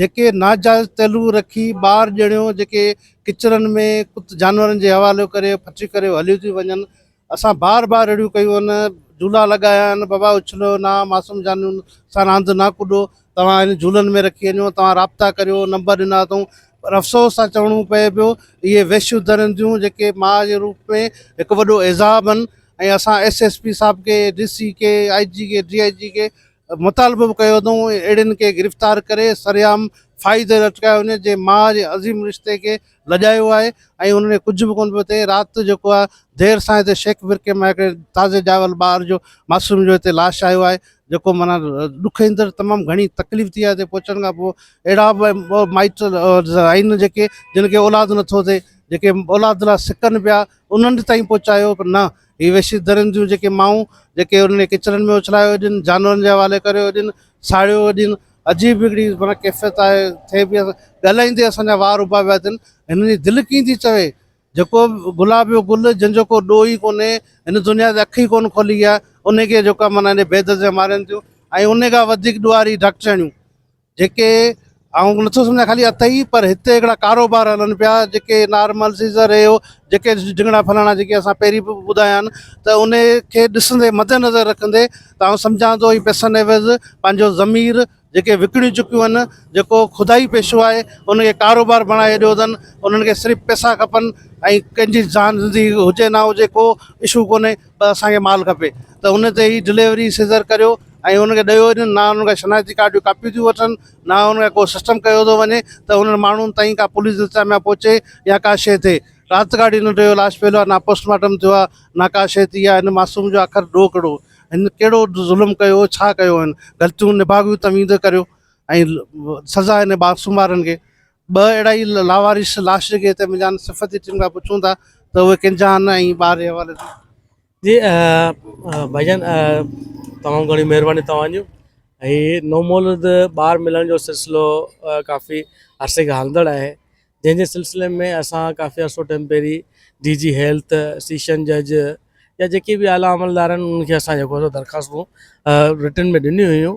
جيڪي ناجائز تعلق رکي ٻار ڄڻيون جيڪي ڪچرن ۾ ڪت جانورن جي حوالي ڪري ڦٽي ڪري هليون ٿي وڃن اسان بار بار اهڙيون ڪيون آهن جهولا لڳايا آهن بابا اڇلو نه معصوم جانورن سان راند نه ڪڏو توهان هن جهولن ۾ رکي وڃو توهان رابطا ڪريو نمبر ڏنا اٿئون پر افسوس سان چوڻو پئي پيو اهي وحشيون درنديون جيڪي ماء جي روپ ۾ هڪ وڏو عذاب آهن ۽ اسان ايس ايس پي صاحب کي ڊي سي کي آء جي کي ڊي آء جي کي مطالبو به ڪيو اٿئون اهڙين کي گرفتار ڪري سرعام ڦاهي تي لٽڪايو وڃي جنهن ماء جي عظيم رشتي کي لڄايو آهي ۽ ان ۾ ڪجهه به ڪونه پيو ٿئي رات جيڪو آهي دير سان هتي شيخ برڪي مان هڪڙي تازي ڄاول ٻار جو معصوم جو هتي لاش آيو آهي جيڪو معنيٰ ڏک ايندڙ تمام گهڻي تڪليف ٿي آهي هتي پهچڻ کان پوء اهڙا به مائٽ آهن جيڪي جن کي اولاد نٿو ٿئي جيڪي اولاد لاء سڪن پيا انهن تائين پهچايو پر نه هي وحشي درين جون جيڪي مائون جيڪي انهن کي ڪچرن ۾ اڇلايو وڃن، جانورن جي حوالي ڪريو وڃن، ساڙيو وڃن، عجيب هڪڙي معنيٰ ڪيفيت آهي، ٿئي پئي ڳالهائيندي اسان جا وار اڀا پيا ٿين، هنن جي دل ڪيئن ٿي چوي، جيڪو گلابيو گل جنهن جو ڪو ڏوهه ئي ڪونهي، هن دنيا تي اک ئي ڪونه کولي آهي، انهي کي جيڪو آهي معنيٰ بي درديون مارين ٿيون ۽ انهي کان وڌيڪ ڏوهاري ڊاڪٽرياڻيون. جيڪي آئون نٿو سمجهان خالي اٿئي پر هتي هڪڙا ڪاروبار هلن پيا جيڪي نارمل سيزر اهو جيڪي جهنگڙا ڦلاڻا جيڪي اسان پهرين به ٻڌايا آهن ته ان کي ڏسندي مد نظر رکندي ته آئون سمجهان ٿو هي پئسن عيوض پنهنجو ضمير جيڪي وڪڻي چڪيون آهن جيڪو خدائي پيشو آهي ان کي ڪاروبار بڻائي ڇڏيو اٿن انهن کي صرف پئسا کپن ۽ ڪنهن جي جان زندگي هجي نه هجي ڪو اشو ڪونهي ته اسان کي مال کپي ته ان تي هي ڊليوري سيزر ڪريو ۽ ان کي ڏيو وڃن نه ان کان شناختي ڪارڊ جون ڪاپيون ٿيون وٺن نه ان کان ڪو سسٽم ڪيو ٿو وڃي ته انهن ماڻهن تائين ڪا پوليس انتظاميا پهچي يا ڪا شيء ٿئي رات گهاڙي نه ٽيو لاش پيل آهي نه پوسٽمارٽم ٿيو آهي نه ڪا شيء ٿي آهي هن معصوم جو آخر ڏوهه ڪهڙو هن ڪهڙو ظلم ڪيو ڇا ڪيو هن غلطيون نڀاڳيون توهين ته ڪريو ۽ سزا هن معصوم وارن کي ٻه اهڙا ئي لاوارث لاشن کي تنهن منجهان صفتي ٽيم کان پڇون ٿا ته اهي ڪنهن جا آهن ۽ ٻار جي حوالي سان جي ڀائي جان تمام گهڻي مهرباني توهان جون هي نو مولود ٻار ملڻ جو سلسلو ڪافي عرصي کان هلندڙ آهي جنهن جي سلسلي ۾ اسان ڪافي عرصو ٽائم پهرين ڊي جي هيلٿ سيشن جج يا جيڪي به اعليٰ عملدارن انهن کي اسان جيڪو درخواستون رٽن ۾ ڏنيون هيون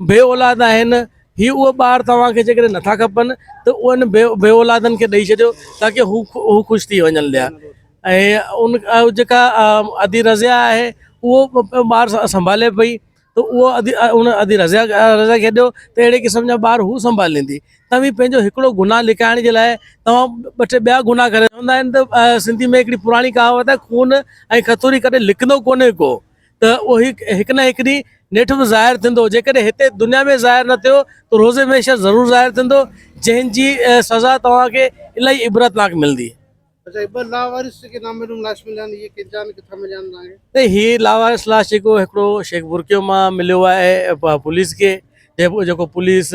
بي اولاد آهن، هي اهي ٻار توهان کي جيڪڏهن نٿا کپن ته انهن بي اولادن کي ڏئي ڇڏيو تاڪه هو خوش ٿي وڃن پيا ۽ ان جيڪا ادي رضيا آهي اهو ٻار سنڀالي پئي ته اهو ادي ان ادي رضيا رضيا کي ڏيو ته اهڙي قسم جا ٻار هو سنڀاليندي توهين پنهنجو هڪڙو گناهه لڪائڻ جي لاء توهان ٻه ٽي ٻيا گناهه ڪري چوندا آهن ته سنڌي ۾ هڪڙي پراڻي ڪهاوت آهي خون ۽ کٿوري ڪڏهن لڪندو ڪونهي ڪو ته اهو هڪ نه هڪ ڏينهن نيٺ به ظاهر ٿيندو جيڪڏهن هتي دنيا ۾ ظاهر نه ٿيو ته روزي محشر ضرور ظاهر ٿيندو جنهن جي سزا توهان کي الاهي عبرتناڪ ملندي هي لاوارث لاش جيڪو هڪڙو شيخ برڪيو مان مليو آهي پوليس کي جيڪو پوليس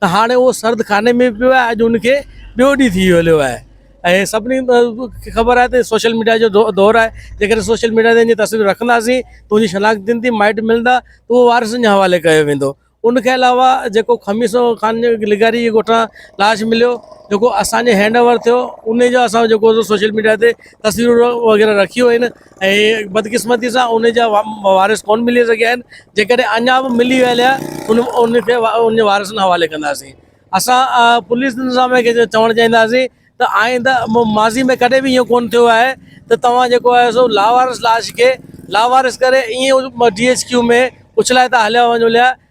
ته هاڻي اهو سرد خاني ۾ پيو آهي اڄ ان کي ٻيو ڏينهن ٿي هليو آهي ۽ سڀني کي خبر آهي ته سوشل ميڊيا جو دور آهي جيڪڏهن سوشل ميڊيا تي تصوير رکنداسين ته ان جي شناخت ٿيندي مائٽ ملندا ته اهو وارثن جي حوالي ڪيو ويندو ان کي علاوه جيڪو خميسو خان جي لغاري جي ڳوٺان لاش مليو جيڪو اسان جي هينڊ اوور ٿيو ان جو اسان جيڪو سوشل ميڊيا تي تصويرون وغيره رکيون آهن ۽ بدقسمتي سان ان جا وارث ڪونه ملي سگهيا آهن جيڪڏهن اڃا به ملي ويل آهي ان ان کي ان جي وارثن جي حوالي ڪنداسين اسان پوليس نظام کي چوڻ چاهينداسين ته آئنده ماضي ۾ ڪڏهن به اهو ڪونه ٿيو آهي ته توهان جيڪو آهي سو لاوارث لاش کي لاوارث ڪري ائين ڊي ايڇ ڪيو ۾ اڇلائي ٿا هليا وڃو ليا